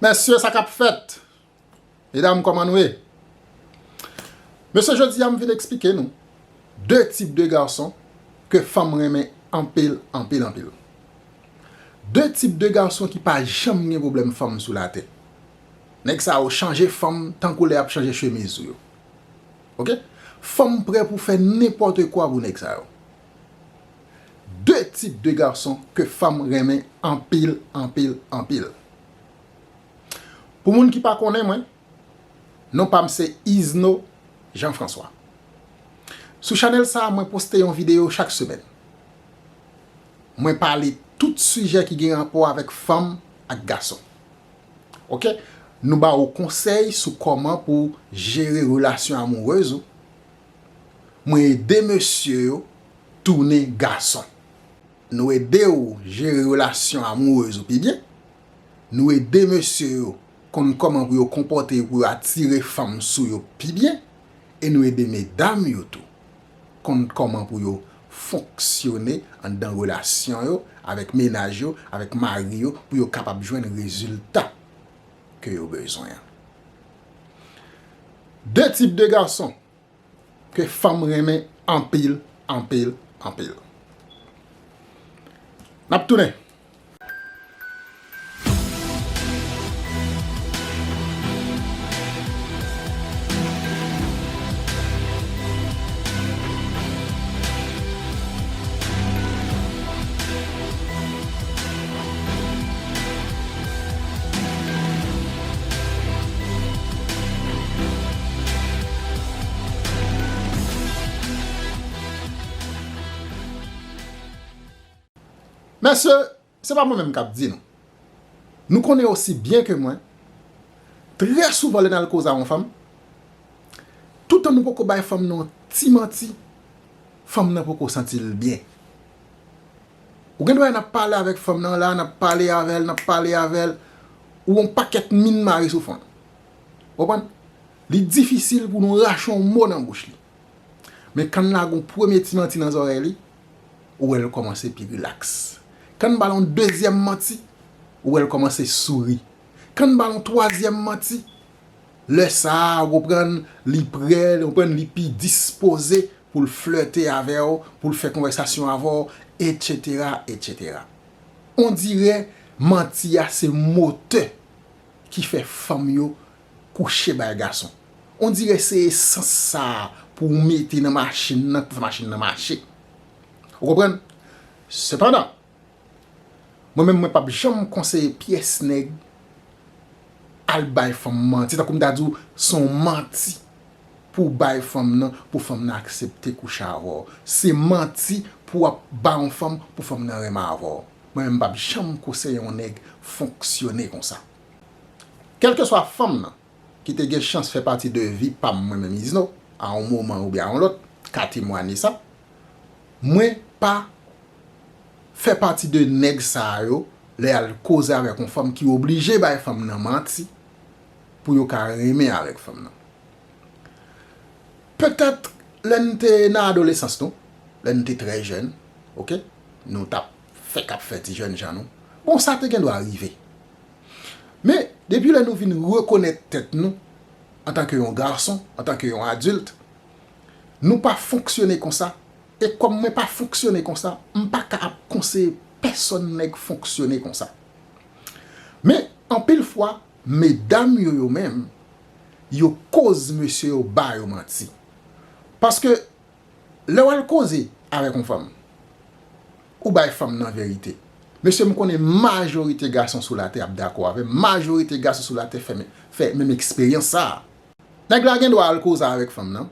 Mesye sa kap fèt Medam koman nou ye Mesye jodi a m vin eksplike nou 2 tip de garçon ke fanm renmen anpil anpil anpil 2 tip de garçon ki pa janm gen problèm fanm sou latè nèg sa yo chanje fanm tankou lè yap chanje chemiz ou yo ok fanm prè pou fè nenpòte kwa pou nèg sa yo 2 tip de gason ke fanm renmen anpil anpil anpil Pou moun ki pa konnen mwen non pam se Izno Jean François Sou chanèl sa mwen poste yon video chak semèn Mwen pale tout sijè ki gen rapò avèk fanm ak gason ok Nou ba ou konsèy sou kòman pou jere relasyon amourez ou Mwen ede mesye yo tounen gason. Nou ede ou jere relasyon amourez ou pi byen. Nou ede mesye yo konn kòman pou yo konpòte yo pou yo atire fanm sou yo pi byen. E nou ede medam yo tou konn kòman pou yo fonksyone anndan relasyon yo, avèk menaj yo, avèk mari yo pou yo kapab jwenn rezilta. ke yo bezwen an. De tip de gason ke fanm renmen anpil, anpil, anpil. N ap tounen. Mesye, se pa mwen menm k ap di nou. Nou konnen osi byen ke mwen, trè souvan lè n al koze a yon fanm, toutan nou poko bay fanm nan yon ti manti, fanm nan poko santi l byen. Ou gen dwa wè nap pale avèk fanm nan la, nap pale avèl, nap pale avèl, ou yon pakèt min mare sou fon. Ou konprann? Li difisil pou nou rache yon mo nan bouch li. Men kan n lage yon premye ti manti nan zòrèy li, ou wè l kòmanse pi rilaks. Kan n ba l yon dezyèm manti, ou wè l kòmanse souri. Kan n ba l yon twazyèm manti, lè sa a ou konprann li pre, ou konprann li pi dispoze pou l flète avè w, pou l fè konvèsasyon avè w, etsetera, etsetera. Ondirè manti a se motè ki fè fanm yo kouche bay gason. Ondirè se esans sa a pou w mete nan machin nan pou fè machin nan mache. Ou konprann? Sepandan, Mwen menm mwen pap janm konseye pyès nèg al bay fanm manti tankou m ta di w son manti pou w bay fanm nan pou fanm nan aksepte kouche avè w se manti pou w ap ba yon fanm pou fanm nan renmen avè w mwen menm m pap janm koseye yon nèg fonksyone konsa kèlkeswa fanm nan ki te gen chans fè pati de vi pa m mwen menm Izno a yon moman oubyen a yon lòt ka temwanye sa Mwen pa Fè pati de nèg sa yo lè yal koze avèk yon fanm ki oblije bay fanm nan manti pou yo ka renmen avèk fanm nan petèt lè nou te nan adolesans nou lè nou te trè jèn ok nou tap fèk ap fè ti jèn jan nou bon sa te gen dwa rive men depi lè nou vin rekonèt tèt nou antanke yon gason antanke yon adilt. Nou pa fonksyone konsa, e kòm mwen pa fonksyone konsa, m pa ka ap konseye pèsòn nèg fonksyone konsa. Men, anpil fwa, medam yo yo menm, yo koz mesye yo ba yo manti. Paske, lè w al koze avèk yon fanm, ou bay fanm nan verite. Mesye, m konnen majorite gason sou latè ap dakò avè m, majorite gason sou latè fè menm eksperyans sa a. Nèg la gen dwa al koze avèk fanm nan,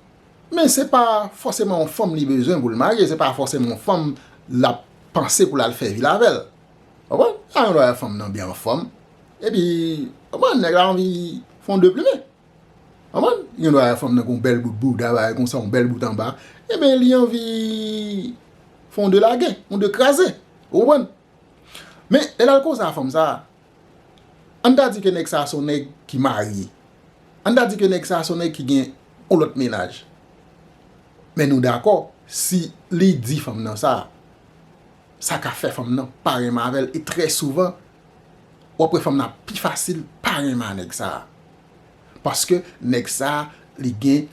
men se pa fòseman yon fanm li bezwen pou l marye, se pa fòseman yon fanm l ap panse pou l al fè vil avè l. Ou konprann? Li ta gen dwa wè fanm nan byen anfòm, epi, ou konprann, nèg la anvi fè yon de plumen. Ou konprann? Li gen dwa wè fanm nan gen yon bèl bout bouda, bagay konsa, yon bèl bout anba, enben li anvi fè yon de lage, yon de kraze. Ou konprann? Men, lè l al koze a fanm sa a, An n ta di ke nèg sa a se yon nèg ki marye. An n ta di ke nèg sa a se yon nèg ki gen yon lòt mennaj. Men nou dakò, si li di fanm nan sa, sa ka fè fanm nan pa renmen avè l e trè souvan, w ap wè fanm nan ap pi fasil pa renmen a nèg sa a. Paske nèg sa a li gen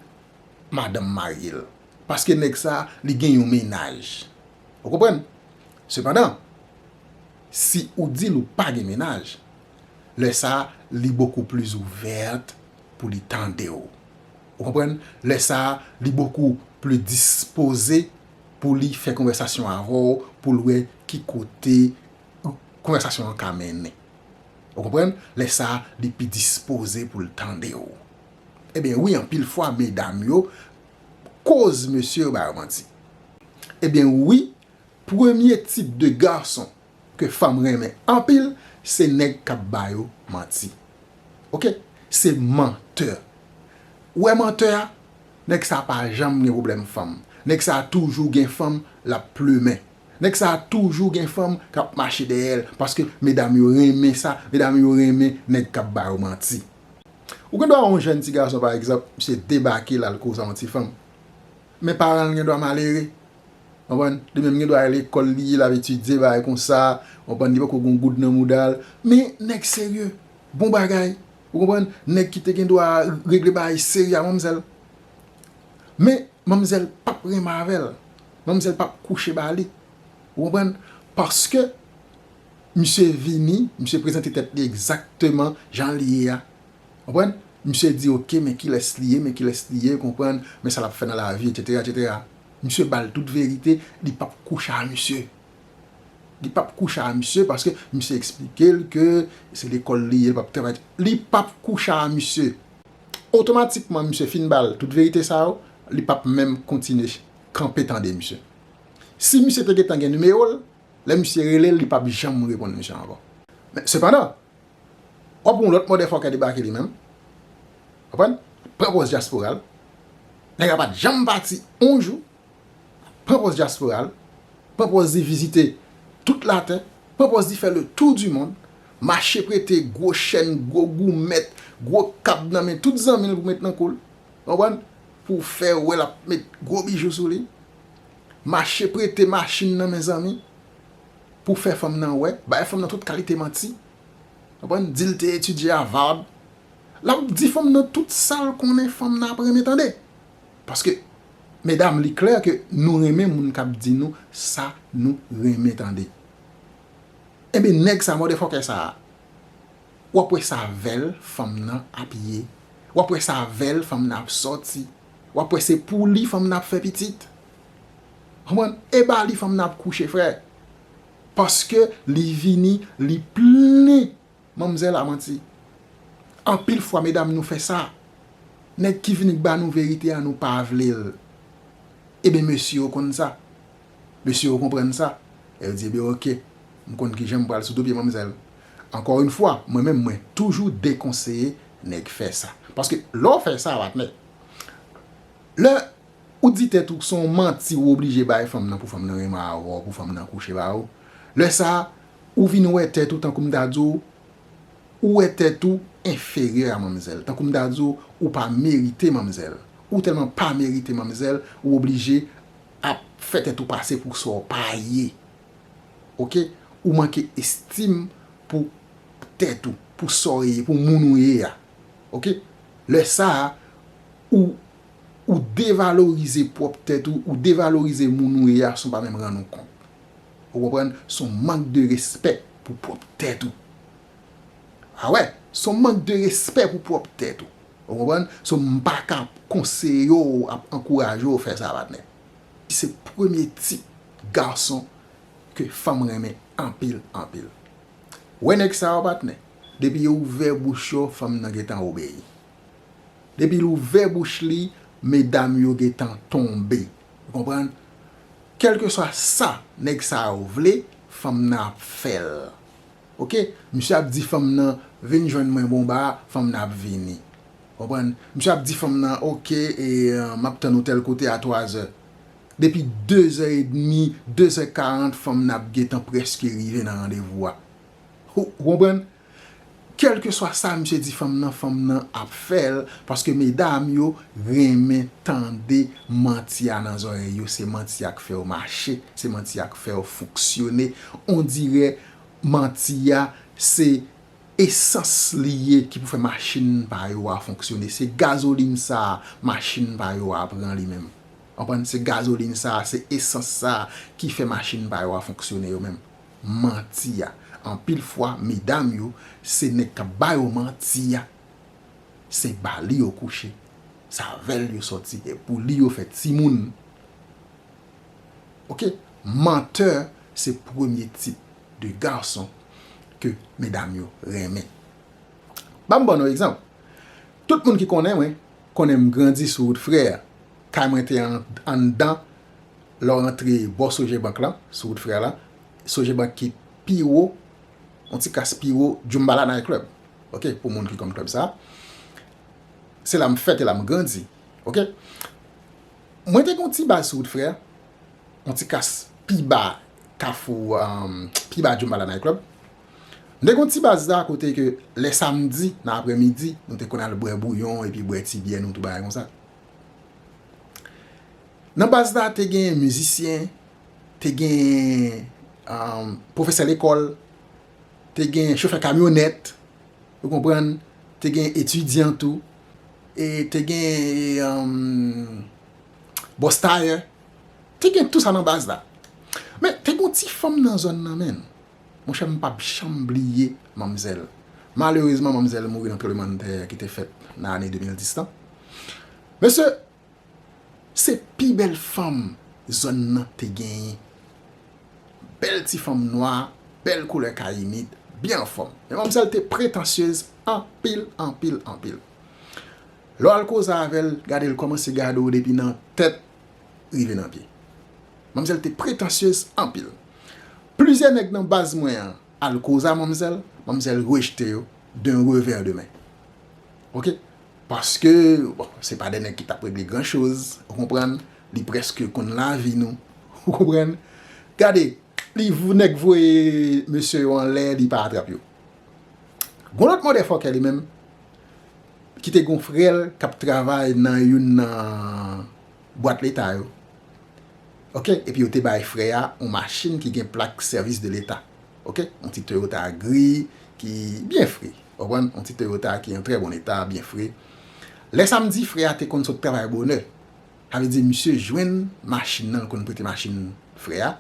madanm marye l. Paske nèg sa a li gen yon mennaj. Ou konprann? Sepandan, si ou di l ou pa gen mennaj, lè sa li bokou plis ouvèt pou li tande w. Ou konprann? Lè sa li bokou plis dispoze pou li fè konvèsasyon avè w pou l wè ki kote konvèsasyon an ka mennen. Ou konprann? Lè sa li pi dispoze pou l tande w. Ebyen wi anpil fwa medam yo koz mesye yo ba yo manti. Ebyen wi premye tip de gason ke fanm renmen anpil se nèg kap ba yo manti. Ok se mantè. Ou wè mantè a nèg sa pa janm gen pwoblèm fanm. Nèg sa toujou gen fanm lap plumen. Nèg sa toujou gen fanm kap mache dèyèl paske medam yo renmen sa, medam yo renmen nèg kap ba yo manti. Ou gen dwa wè yon jèn ti gason pa egzanp, misye debake l al koze yon ti fanm. Men paran l gen dwa malere. Konprann? Li menm gen dwa al lekòl li, l ap etidye bagay konsa, konprann, li poko gen yon goud nan mouda l. Men nèg serye, bon bagay. Ou konprann? Nèg ki te gen dwa regle bagay serye a manmzèl. Men manmzèl p ap renmen avè l. Manmzèl p ap kouche ba li. Ou konprann? Paske Misye vini, misye prezante tèt li egzakteman jan li ye a. Konprann? Misye di ok men kilès li ye, men kilès li ye, konprann, men sa l ap fè nan lavi etsetera etsetera. Misye ba l tout verite, li p ap kouche a misye. Li p ap kouche a misye paske misye eksplike l ke se lekòl li ye, li p ap travay. Li p ap kouche a misye. Otomatikman misye fin ba l tout verite sa yo, li p ap menm kontinye kanpe tande misye. Si misye te gentan gen nimewo l, Lè misye rele l, li pap janm reponn misye ankò. Men, sepandan, w ap wè yon lòt mòdèfòkè debake li menm. Konprann? L ap pran pòz dyaspora l. Nèg la pa t janm pati yon jou. Pran pòz dyaspora l. Pran pòz li vizite tout latè. Pran pòz li fè le tou di mond. Mache prete gwo chèn, gwo goumèt, gwo kab nan men tout zanmi l pou met nan kou l. Konprann? Pou fè wè l ap met gwo bijou sou li. Mache prete machin nan mezanmi pou fè fanm nan wè, bay fanm nan tout kalite manti, konprann, di l te etidye Harvard, l ap di fanm nan tout sa l konnen fanm nan ap renmen tande. Paske medam li klè ke nou renmen moun k ap di nou sa nou renmen tande. Enben nèg sa mòdèfòkè sa a, w ap wè sa vèl fanm nan ap ye, w ap wè sa vèl fanm nan ap sòti, Wap wè se pou li fanm nan ap fè pitit. Konprann? E ba li fanm nan ap kouche frè. Paske li vini li plen manmzèl a manti. Anpil fwa medam nou fè sa. Nèg ki vini k ba nou verite a nou pa vle l. Eben mesye yo konn sa. Mesye yo konprann sa. E yo di ebe ok. M konn kijan m pral sou do pye manmzèl. Ankò yn fwa mwen menm mwen toujou dekonseye nèg fè sa. Paske lè w fè sa wap mèt. Lè ou di tèt ou son manti ou oblije bay fanm nan pou fanm nan renmen avèw pou fanm nan kouche ba ou. Lè sa ou vin wè tèt ou tankou m ta di w ou wè tèt ou enferyè a manmzèl. Tankou m ta di w ou pa merite manmzèl. Ou tèlman pa merite manmzèl ou oblije ap fè tèt ou pase pou sa w pa ye. Ok ou manke estim pou tèt ou pou sa w ye pou moun ou ye a ok lè sa ou ou devalorize pwòp tèt ou ou devalorize moun ou ye a san w pa menm rann ou kont ou konprann s on mank de respè pou pwòp tèt ou a wè s on mank de respè pou pwòp tèt ou ou konprann so m pa ka konseye w ap ankouraje w fè sa patnè se premye tip Garçon ke fanm renmen anpil anpil. Wè nèg sa yo patnè, depi yo ouvè bouch yo fanm nan gentan obeyi. Depi l ouvè bouch li medam yo gentan tonbe. Ou konprann? Kèlkeswa sa nèg sa yo vle, fanm nan ap fè l. Ok, misye ap di fanm nan vin jwenn mwen bonba, fanm nan ap vini. Ou konprann? Misye ap di fanm nan ok, e m ap tann ou tèl kote a twazè. Depi 2 zè edmi, 2 zè 40 fanm nan ap gentan prèske rive nan randevou a. Ou konprann? Kèlkeswa sa misye di fanm nan, fanm nan ap fè l paske medam yo renmen tande manti a nan zòrèy yo, se manti a k fè yo mache, se manti a k fè yo fonksyone, ondirè manti a se esans li ye ki pou fè machin pa yo a fonksyone, se gazolin sa a machin pa yo a pran li menm. Konprann se gazolin sa a, se esans sa a ki fè machin pa yo a fonksyone yo menm. Manti a. Anpil fwa medam yo se nèg k ap ba yo manti a. Se ba li yo kouche. Se avè l yo sòti. E pou li yo fè timoun. Ok. Mantè se premye tip de gason ke medam yo renmen. Ban m ban nou egzanp. Tout moun ki konnen mwen, konnen m grandi sou wout frè a. Kay mwen te anndan lè w antre bò Sogebank lan, sou wout Frè lan. Sogebank ki pi wo, yon ti kas pi wo Djoumbala Night Club. Ok, pou moun ki konn klèb sa. Se la m fèt e la m grandi. Ok. Mwen te gen yon ti baz sou wout Frè, yon ti kas pi ba kafou, pi ba Djoumbala Night Club. M te gen yon ti baz la kote ke lè samdi nan aprèmidi, nou te konn al bwè bouyon epi bwè ti byè nou tou bagay konsa. Nan baz la te gen mizisyen, te gen pwofesè lekòl, te gen chofè kamyonèt, ou konprann, te gen etidyan tou, e te gen bòs tayè, te gen tout sa nan baz la. Men, te gen yon ti fanm nan zòn nan menm. Monchè m pap janm bliye manmzèl. Malerezman manmzèl mouri nan tranblemann tè ki te fèt nan ane 2010 lan. Mesye, se pi bèl fanm zòn nan te genyen. Bèl ti fanm nwa, bèl koulè kayimit, byen anfòm. Men manmzèl te pretansyez anpil, anpil, anpil. Lè w al koze avè l, gade l kòmanse gade w depi nan tèt rive nan pye. Manmzèl te pretansyez anpil. Plizyè nèg nan baz mwen an al koza manmzèl, manmzèl rejte yo d'un revers de main. Ok. Paske, bon, se pa de nèg ki t ap regle gran choz, ou konprann, li prèske konn lavi nou, ou konprann. Gade, li, nèg voye mesye yo anlè, li pa atrap yo. Gon lòt mòdèfòkè li menm. ki te gen yon frè l k ap travay nan youn nan bwat leta yo, ok, epi yo te bay frè a yon machin ki gen plak sèvis de leta, ok, yon ti Toyota gri ki byen fre, ou konprann, yon ti Toyota ki an trè bon eta, byen fre. Lè sa m di frè a te konn sot travay bonè, sa vle di misye jwenn machin nan, l konn prete machin frè a,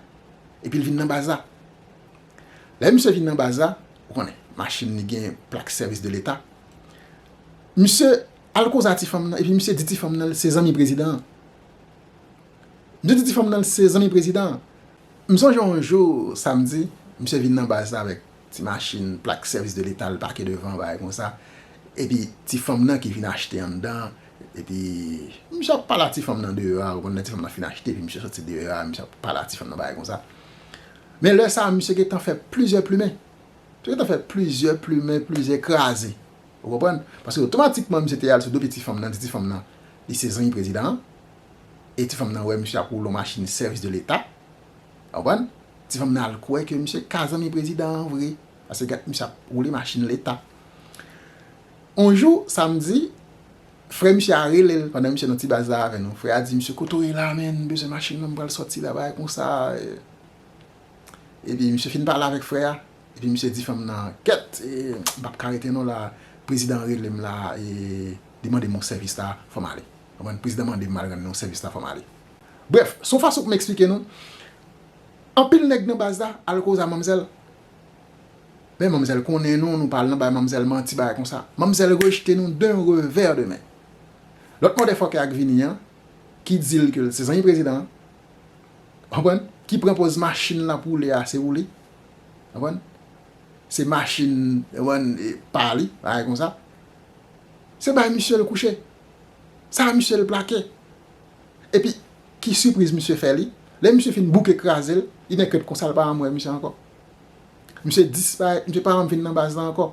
epi l vin nan baz la. Lè misye vin nan baz la, ou konnen, machin li gen plak sèvis de leta, misye al koze a ti fanm nan epi misye di ti fanm nan li se zanmi prezidan an. Misye di ti fanm nan li se zanmi prezidan an. M sonje yon jou samdi, misye vin nan baz la avèk ti machin plak sèvis de leta l pake devan an bagay konsa, epi ti fanm nan ki vin achte anndan an, epi misye ap pale a ti fanm nan deyò a, ou konnen lè ti fanm nan fin achte epi misye soti deyò a, misye ap pale a ti fanm nan bagay konsa. Men lè sa a, misye gen tan fè plizyè plimen. Misye gen tan fè plizyè plimen, plizyè kraze. Ou konprann? Paske otomatikman misye te al sou do piti fanm nan, di ti fanm nan li se zanmi prezidan an. E ti fanm nan wè misye ap woule yon machin sèvis de leta. Ou konprann? Ti fanm nan al kwè ke misye ka zanmi prezidan an vre. Paske misye ap woule machin leta. On jou, samdi, Frè misye a relel pandan misye nan ti baz la avè nou frè a di misye kote w ye la menn m bezwen machin nan m pral sòti la bagay konsa epi misye fin pale avèk frè a epi misye di fanm nan kèt m pap ka rete non la prezidan an rele m la li mande m yon sèvis la fò m ale konprann prezidan mande m m al rann li yon sèvis la fò m ale brèf son fason pou m esplike nou anpil nèg nan baz la al koz a manmzèl. Men manmzèl konnen nou, nou pa al nan bay manmzèl manti bagay konsa. Manmzèl rejte nou d'un revers de main. Lòt mòdèfòkè a k vini an, ki di l ke l se zanmi prezidan an, ou konprann, ki pran pòz machin l ap woule a se ou li, ou konprann, se machin, ou konprann, pa li, bagay konsa, se bay misye l kouche. Sa a misye l plake. Epi, ki sipriz misye fè li? Lè misye fin bouke kraze l, li nèk rèt konsa l pa janm wè misye ankò. Misye disparèt, misye pa janm vin nan baz la ankò.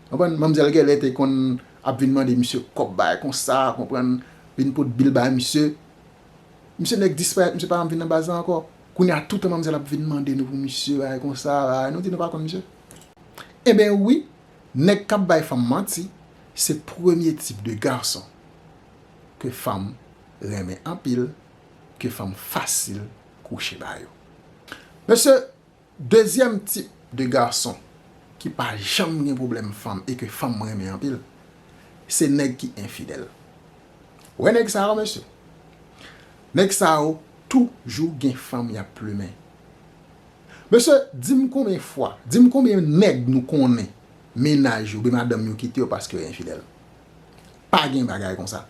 Konprann? Manmzèl gèlè te konn ap vin mande misye kòb bagay konsa, konprann, vin pot bil bay misye. Misye nèk disparèt, misye pa janm vin nan baz la ankò. Kounye a toutan manmzèl ap vin mande nou pou misye bagay konsa, bagay, nou di nou pa konn misye. Enben wi, nèg k ap bay fanm manti, se premye tip de gason ke fanm renmen anpil, ke fanm fasil kouche ba yo. Men se dezyèm tip de gason ki pa janm gen pwoblèm fanm e ke fanm renmen anpil, se nèg ki enfidèl. Ou wè nèg sa yo mesye? Nèg sa yo toujou gen fanm y ap plumen. Mesye, di m konbyen fwa, di m konbyen nèg nou konnen mennaj yo oubyen madanm yo kite yo paske yo enfidèl? Pa gen bagay konsa.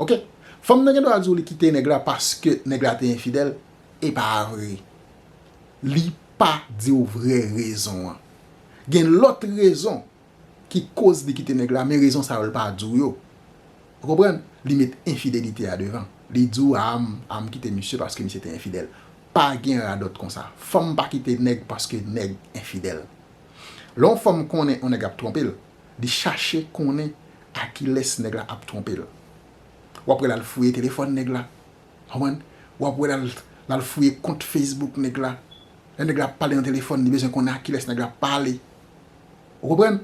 Ok fanm nan gen dwa di w li kite nèg la paske nèg la te enfidèl e pa vre li pa di w vrè rezon an gen lòt rezon ki koz li kite nèg la men rezon sa yo li pa di w yo ou konprann li met enfidelite a devan li di w a a m kite misye paske misye te enfidèl pa gen radòt konsa fanm pa kite nèg paske nèg enfidèl lè yon fanm konnen yon nèg ap twonpe l Li chache konnen a kilès nèg la ap twonpe l. W ap wè l al fouye telefòn nèg la. Ou konprann? W ap wè l al fouye kont Facebook nèg la. Lè nèg la ap pale nan telefòn, li bezwen konnen a kilès nèg la ap pale. Ou konprann?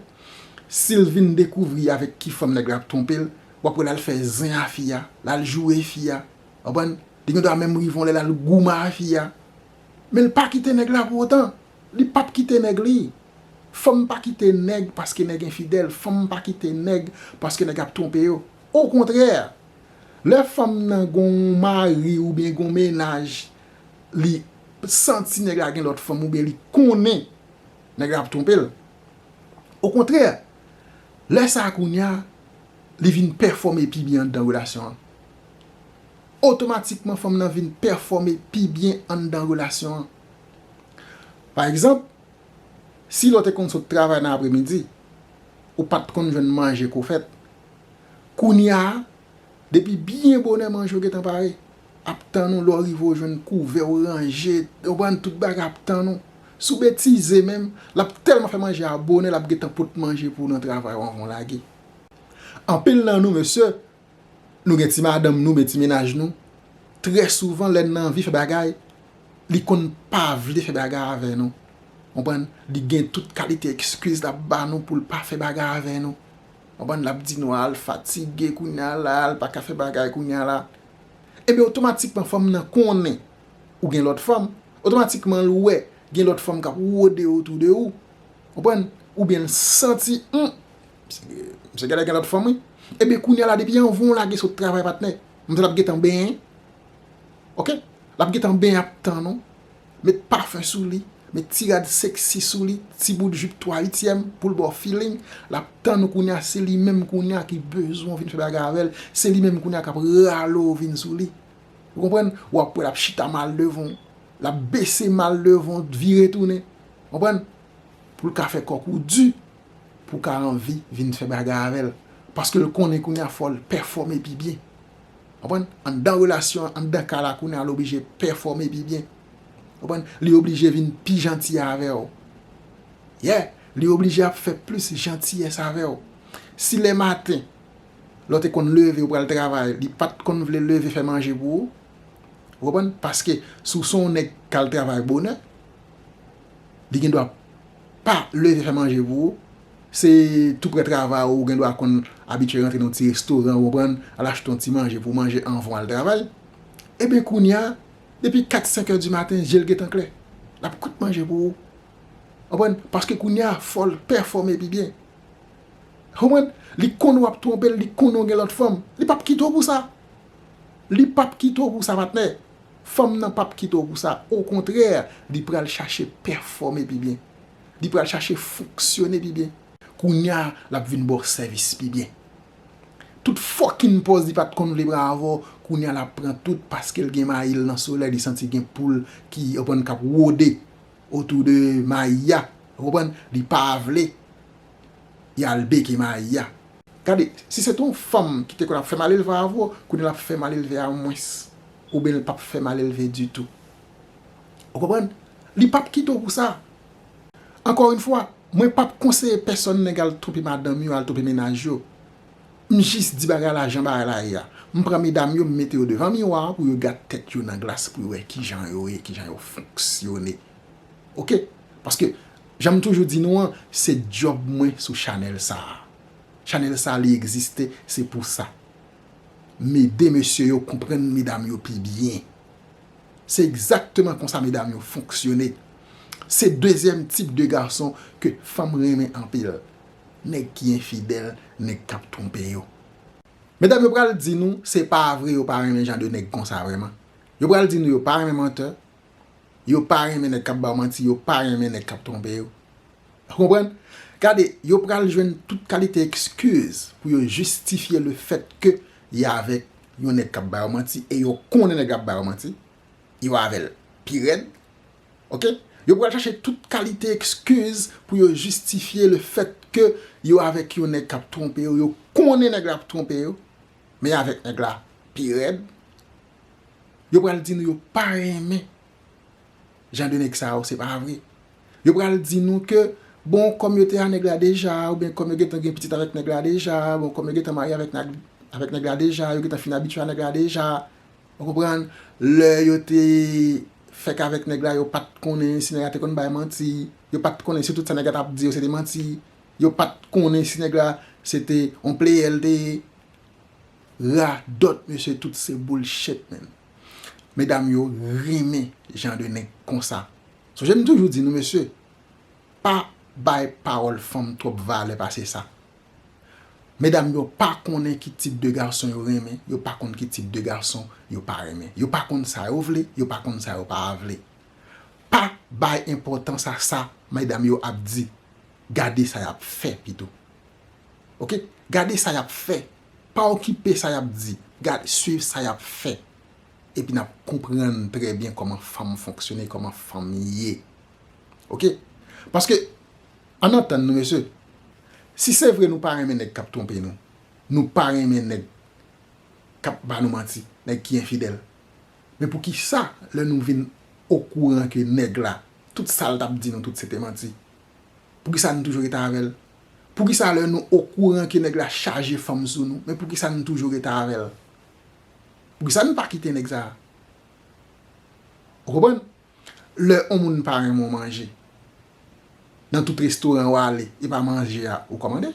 Si l vin dekouvri avèk ki fanm nèg la ap twonpe l, w ap wè l al fè zen a fi a, l al joure fi a. Ou konprann? Li gendwa menm rive yon lè l al goumen a fi a. Men l pa kite nèg la pou otan. Li pap kite nèg li. Fanm pa kite nèg paske nèg enfidèl, fanm pa kite nèg paske nèg ap twonpe yo. Okontrè, lè fanm nan gon yon mari oubyen gon mennaj, li santi nèg la gen lòt fanm oubyen li konnen nèg la ap twonpe l. Okontrè, lè sa a kounye a, li vin pèfòme pi byen anndan relasyon an. Otomatikman fanm nan vin pèfòme pi byen anndan relasyon an. Pa egzanp, si lè w te konn sot travay nan apremidi, ou pa t konn jwenn manje kou fèt, kounye a, depi byen bonè manje w gentan pare, ap tann ou, lè w rive ou jwenn kouvè ou ranje, ou konprann, tout bagay ap tann ou. Si w betize menm, l ap tèlman fè manje a bonè l ap gentan pot manje pou w nan travay ou anvan w lage. Anpil nan nou mesye, Nou gen ti madanm nou, men ti mennaj nou, trè souvan lè n nan anvi fè bagay, li konn pa vle fè bagay avè nou. Konprann? Li gen tout kalite ekskiz l ap ba nou pou l pa fè bagay avè nou. Konprann? L ap di nou, a l fatige kounye a la, l pa ka fè bagay kounye a la. Enben otomatikman fanm nan konnen ou gen lòt fanm, otomatikman l wè gen lòt fanm k ap wode otou de ou, konprann, oubyen l santi, humm! Misye genlè gen lòt fanm wi. Ebyen kounya la depi anvan w lage sot travay patnè, manzè la ap gentan benyen. Ok, l ap gentan benyen ap tann ou, met pafen sou li, met ti rad seksi sou li, ti bout jup 3 uityèm pou l ba w feeling, l ap tann ou kounya se li menm kounya ki bezwen w vin fè bagay avè l, se li menm kounya k ap rale w vin sou li. Ou konprann? Ou ap wè l ap chita mal devan w, l ap bese mal devan w, vire tounen. Konprann? Pou l ka fè kòk ou di, pou w ka anvi vin fè bagay avè l. Paske l konnen kounye a fò l pèfòme pi byen. Ou konprann? Anndan relasyon an, anndan kay la kounye a l oblije pèfòme pi byen. Ou konprann? Li oblije vin pi janti avè w. Yeah! Li oblije ap fè plis jantiyès avè w. Si le maten, lè w te konn leve ou pral travay, li pa t konn vle leve fè manje pou ou, ou konprann? Paske si w se yon nèg k al travay bonè, li gen dwa pa leve fè manje pou ou, se tou prè travay ou gen dwa konn abitye rantre nan yon ti restoran ou konprann, al achte yon ti manje pou w manje anvan w al travay, eben kounya depi 4, 5 è di maten je l gentan klè, l ap kwit manje pou ou. Ou konprann? Paske kounya fò l pèfòme pi byen. Ou konprann? Li konnen w ap twonpe l, li konnen w gen lòt fanm, li p ap kite w pou sa. Li p ap kite w pou sa patnè. Fanm nan pap kite w pou sa, okontrè li pral chache pèfòme pi byen. Li pral chache fonksyone pi byen. Kounya lap vin ba w sèvis pi byen. Tout fòkinn pòz li pat konn vle pran avè w, kounya lap pran tout paske l gen mayi l nan solèy li santi gen poul ki ou konprann kap wode otou de mayi a ou konprann li pa vle y al beke mayi a. Gade, si se te yon fanm ki te konn ap fè malelve avè w, kounya lap fè malelve a mwens. ou byn l pap fè malelve ditou ou konprann li pap kite w pou sa ankò yn fwa mwen pap konseye pèsòn nèg al twonpe madanm yo al twonpe mennaj yo m jis di bagay la jan bagay la ye a m pran medam yo m mete yo devan miwa pou yo gad tèt yo nan glas pou yo wè kijan yo ye kijan yo fonksyone ok paske jan m toujou di nou an se dyòb mwen sou chanèl sa chanèl sa li egziste se pou sa. Mede mesye yo konprann medam yo pi byen. Se egzakteman konsa medam yo fonksyone. Se dezyèm tip de gason ke fanm renmen anpil. Nèg ki enfidèl, nèg kap twonpe yo. Medam yo pral di nou se pa vre yo pa renmen jan de nèg konsa vreman. Yo pral di nou yo pa renmen menteur, Yo pa renmen nèg kap ba yo manti, yo pa renmen nèg kap twonpe yo. Ou konprann? Gade, yo pral jwenn tout kalite ekskiz pou yo jistifye le fèt ke y avèk yon nèg kap ba yo manti e yo konnen nèg la ap ba yo manti, yo avè l pi rèd. Ok? Yo pral chache tout kalite ekskiz pou yo jistifye le fèt ke yo avèk yon nèg kap twonpe yo, yo konnen nèg la ap twonpe yo. Men avèk nèg la pi rèd. Yo pral di nou yo pa renmen jan de nèg sa yo se pa vre. Yo pral di nou ke bon kòm yo te a nèg la deja ou byen kòm yo gen tan gen pitit avèk nèg la deja, bon kòm yo gen tan marye avèk nèg la deja, yo gen tan fin abitye a nèg la deja. Ou konprann? Lè yo te fèk avèk nèg la yo pat konnen si nèg la te konn bay manti. Yo pat konnen si tout sa nèg la tap di yo se te manti. Yo pat konnen si nèg la se te yon player li te ye. Radòt mesye tout se bullshit menn. Medam yo renmen jan de nèg konsa. Sonje m toujou di nou mesye pa bay pawòl fanm twòp valè pase sa. Medam yo pa konnen ki tip de gason yo renmen, yo pa konn ki tip de gason yo pa renmen. Yo pa konn sa yo vle, yo pa konn sa yo pa vle. Pa bay enpòtans a sa medam yo ap di. Gade sa yap fè pito ok gade sa yap fè pa okipe sa yap di gad swiv sa yap fè epi nap konprann trè byen kòman fanm fonksyone kòman fanm ye ok paske ann antann nou mesye si se vre nou pa renmen nèg kap twonpe nou nou pa renmen nèg kap ba nou manti nèg ki enfidèl men poukisa lè nou vin okouran ke nèg la tout sal tap di nou tout se te manti Poukisa nou toujou rete avèl? Poukisa lè nou okouran ke nèg la chaje fanm sou nou, men poukisa nou toujou rete avèl? Poukisa nou pa kite nèg sa? Ou konprann? Lè on moun pa renmen on manje, nan tout restoran ou ale, e pa manje a ou kòmande?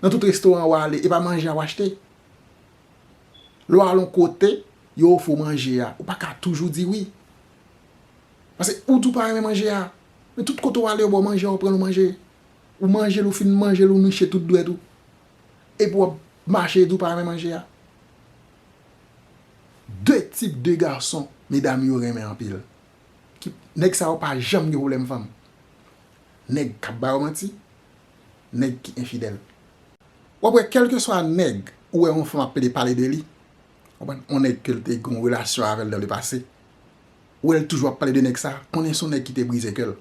Nan tout restoran ou ale, e pa manje a ou achte? Lè ou al on kote, yo ofri ou manje a, ou pa ka toujou di wi? Pase ou di ou pa renmen manje a, men tout kote ou ale yo ba w manje a ou pran l ou manje. Ou manje l ou fin manje l ou niche tout dwèt ou. Epi w ap mache di w pa renmen manje a. De tip de gason medam yo renmen anpil. Nèg sa yo pa janm gen pwoblèm fanm. Nèg k ap ba yo manti, nèg ki enfidèl. W ap wè kèlkeswa nèg ou wè yon fanm ap pede pale de li, w konprann, yon nèg ke l te gen yon relasyon avè l dan le pase, Ou wèl toujou ap pale de nèg sa, konnen son nèg ki te brize kèl.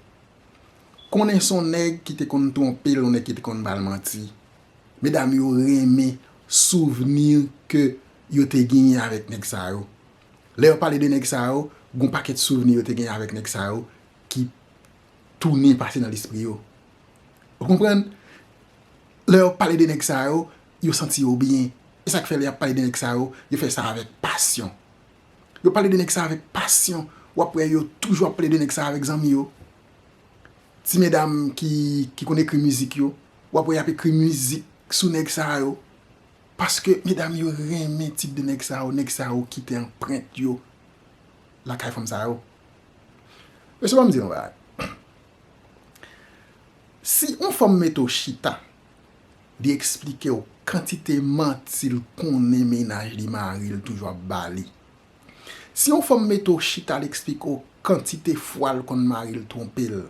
Konnen son nèg ki te konn twonpel yon nèg ki te konn bal manti. Medam yo renmen souvni ke yo te genyen avèk nèg sa yo. Lè yo pale de nèg sa yo, gon pakèt souvni yo te genyen avèk nèg sa yo ki tounen pase nan lespri yo. Ou konprann? Lè yo pale de nèg sa yo, yo santi yo byen. Esak fè lè yap pale de nèg sa yo, yo fè sa avèk pasyon. Yo pale de nèg sa avèk pasyon, w ap wè yo toujou ap pale de nèg sa avèk zanmi yo. Ti medam ki konn ekri mizik yo, w ap wè y ap ekri mizik sou nèg sa yo. Paske medam yo renmen tip de nèg sa yo, nèg sa yo kite anprent yo lakay fanm sa yo. Mesye ban m di yon bagay, si yon fanm mete w chita Li eksplikew kantite manti l konnen mennaj li mari l toujou ap ba li. Si yon fanm mete w chita l eksplike w kantite fwa l konn mari l twonpe l.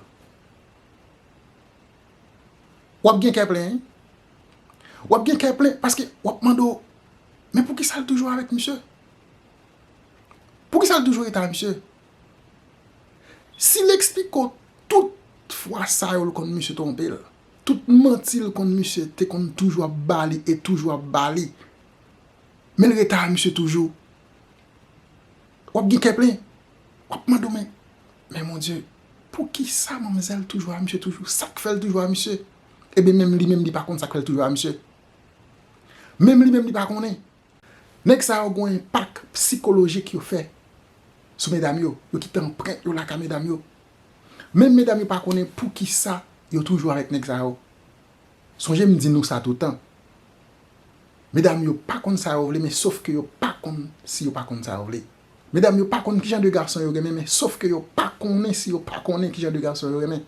Wap gen kè plen wi. Wap gen kè plen paske wap mande w men poukisa l toujou avèk misye? Poukisa l toujou rete avèk misye? Si l eksplike w tout fwa sa yo l konn misye twonpe l. Tout manti l konn misye te konn toujou ap ba li e toujou ap ba li. Men l ret a misye toujou. W ap gen kè plen. W ap mande w men, men mon Dye, pou ki sa manmzèl toujou a misye toujou? Sa k fè l toujou a misye? E ben menm li menm li pa konn sa k fè l toujou a misye. Menm li menm li pa konnen. Nèg sa yo gon enpak psikolojik yo fè sou medam yo. Yo kite anprent yo lakay medam yo. Menm medam yo pa konnen poukisa yo toujou avèk nèg sa yo. Sonje m di nou sa toutan. Medam yo pa konn sa yo vle men sof ke yo pa konn si yo pa konn sa yo vle. Medam yo pa konn kijan de gason yo renmen men sof ke yo pa konnen si yo pa konnen kijan de gason yo renmen.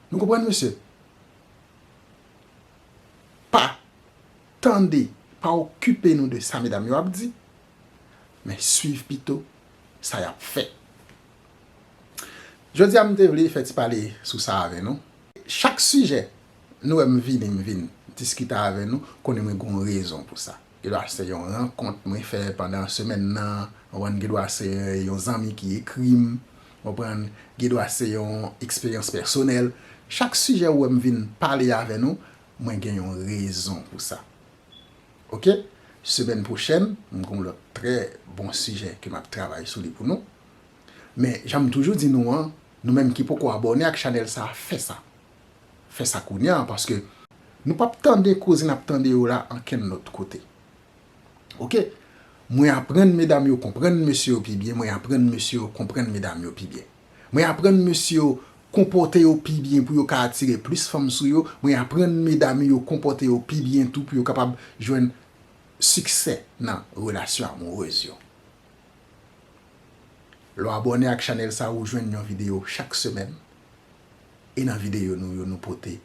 Nou konprann mesye? Pa tande, pa okipe nou de sa medam yo ap di. men swiv pito sa yap fè. Jodi a m te vle fè ti pale sou sa avè nou. Chak sijè nou wè m vini m vin diskite avè nou konnen mwen gon rezon pou sa. Gen dwa se yon rankont mwen fè pandan semèn nan, konprann, gen dwa se yon zanmi ki ekri m, konprann, gen dwa se yon eksperyans pèsonèl. Chak sijè ou wè m vin pale avè nou, mwen gen yon rezon pou sa. ok semèn pwochèn m gon lòt trè bon sijè ke map travay sou li pou nou men janm toujou di nou an nou menm ki poko abòne ak chanèl sa fè sa fè sa kounya paske nou pap tande koze nap tande yo la ankenn lòt kote ok mwen aprann medam yo konprann mesye yo pi byen mwen aprann mesye yo konprann medam yo pi byen. Mwen aprann mesye yo konpòte yo pi byen pou yo ka atire plis fanm sou yo, mwen aprann medam yo konpòte yo pi byen tou pou yo kapab jwenn siksè nan relasyon amourez yo. Lè w abòne ak chanèl sa ou jwenn yon videyo chak semèn e nan videyo nou yo nou pote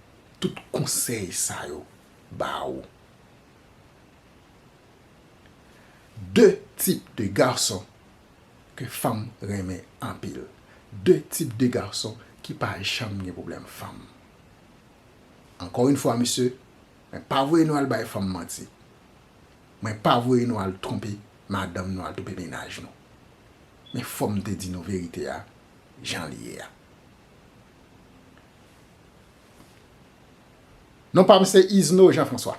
tout konsèy sa yo ba ou. De tip de garçon. ke fanm renmen anpil. De tip de gason ki pa janm gen pwoblèm fanm. Ankò yn fwa mesye, mwen pa voye nou al bay fanm manti. Mwen pa voye nou al twonpe madanm nou, al twonpe mennaj nou. Men fò m te di nou verite a jan li ye a. Non pa m se Izno Jean François.